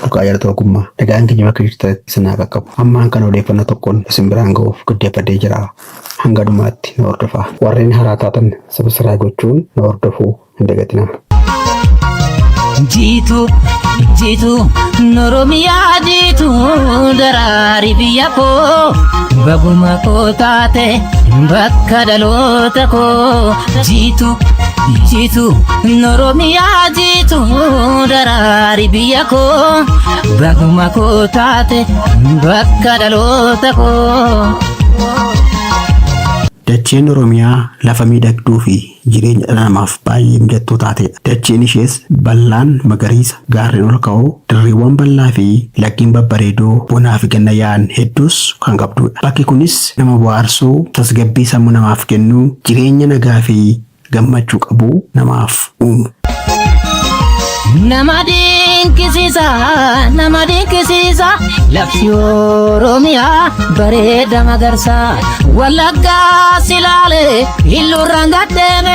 Furqaa Jaalata Ogummaa. Nagaan keenya bakka jirtanitti isin haa qaqqabu. Hammaan kana odeeffannoo tokkoon isin biraan ga'uuf giddeeffadhee jira. Hanga dhumaatti na hordofaa. Warreen haaraa taatan sabsiraayib gochuun na hordofuu hin dagatinaa. Jiitu jiitu noromiyaa jiitu daraari biyya koo baguma koo taate bakka dhaloota koo jiitu jiitu oromiyaa jiitu daraari biyya koo baguma koo taate bakka dhaloota koo. Dacheen Oromiyaa lafa miidhagduu fi jireenya dhala namaaf baay'ee mijattuu taatedha. Dacheen ishees bal'aan magariisa, Gaarreen ol ka'oo, dirreewwan bal'aa fi laggeen babbareedoo bonaa fi ganna yaa'an hedduus kan qabduudha. Bakki kunis nama bohaarsuu, tasgabbii sammuu namaaf kennu, jireenya nagaa fi gammachuu qabu namaaf uumu. Nama dinqisiisa, nama dinqisiisa, lafti Oromiyaa bareeda magarsa. Wallaggaa si laale, illuurraan gaddeeme.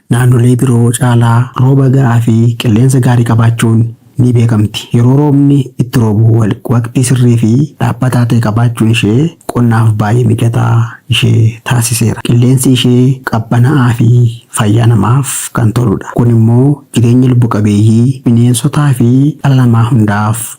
Naannolee biroo caalaa rooba ga'aa fi qilleensa gaarii qabaachuun ni beekamti. Yeroo roobni itti roobu waqtii sirrii fi dhaabbataa ta'e qabaachuun ishee qonnaaf baay'ee mijataa ishee taasiseera. Qilleensi ishee qabbanaa'aa fi fayyaa namaaf kan toludha. Kun immoo jireenya lubbu qabeeyyii, bineensotaa fi dhala namaa hundaaf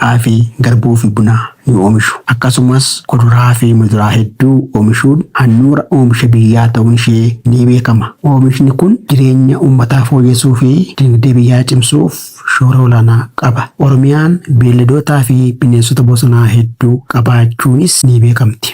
Xaafii, garbuufi buna ni oomishu. Akkasumas kuduraafi muduraa hedduu oomishuun handhuura oomisha biyyaa ta'uun ishee ni beekama. Oomishni kun jireenya uummataa fooyyessuufi dinagdee biyyaa cimsuuf shoora olaanaa qaba. Oromiyaan beelladootaafi bineensota bosonaa hedduu qabaachuunis ni beekamti.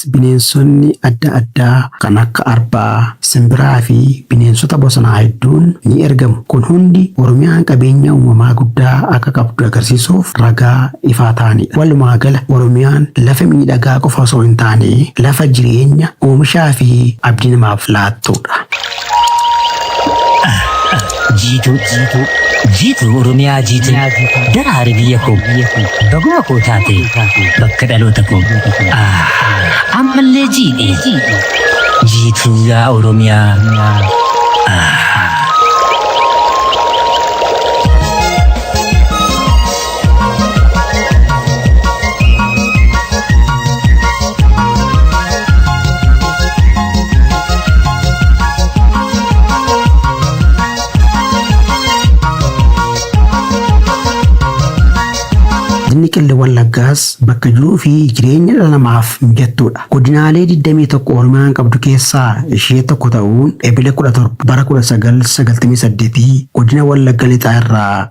Akkasumas bineensonni adda addaa kan akka arbaa, simbiraa fi bineensota bosonaa hedduun ni ergamu. Kun hundi Oromiyaan qabeenya uumamaa guddaa akka qabdu agarsiisuuf ragaa ifaa ta'anidha. Walumaa gala Oromiyaan lafa miidhagaa qofa osoo hin taane lafa jireenya, oomishaa fi abdii namaaf laattudha. Jiituu jiituu jiituu Oromiyaa jiituu daraari biyya koo baguma koo taate bakka dhaloota koo ammallee jiidhe jiituu yaa Oromiyaa. Ah. Godinni Qillee Wallaggaas bakka jiruu fi jireenya dhala namaaf mijattuudha. Godinaalee 21 Oromiyaan qabdu keessaa ishee tokko ta'uun Ebile 17 bara 1998 godina Wallagga Lixaa irraa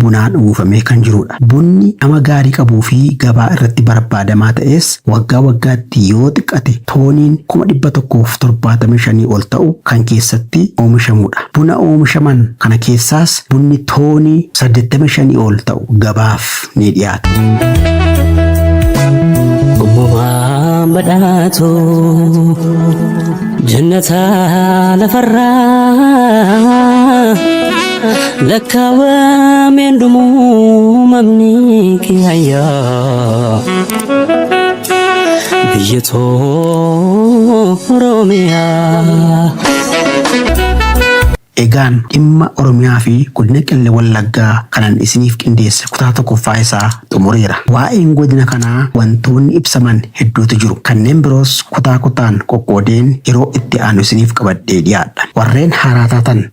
bunaan uwwifamee kan jiruudha. Bunni dhama gaarii qabuu fi gabaa irratti barbaadamaa ta'es waggaa waggaatti yoo xiqqate tooniin kuma 175 ol ta'u kan keessatti oomishamuudha. Buna oomishaman kana keessaas bunni toonii 85 ol ta'u gabaaf ni dhiyaata. Uumamaan badhaatu jannataa lafarraa. lakkaawameen dhumuu mamni kiyayyaa biyya too Oromiyaa. Egaan dhimma Oromiyaa fi godina Qelle Wallaggaa kanan isiniif qindeesse kutaa tokkoffaa isaa xumureera. Waa'een godina kanaa wantoonni ibsaman hedduutu jiru. Kanneen biroos kutaa kutaan qoqqoodeen yeroo itti aanu isiniif qabadhee dhiyaadha. Warreen haaraa taatan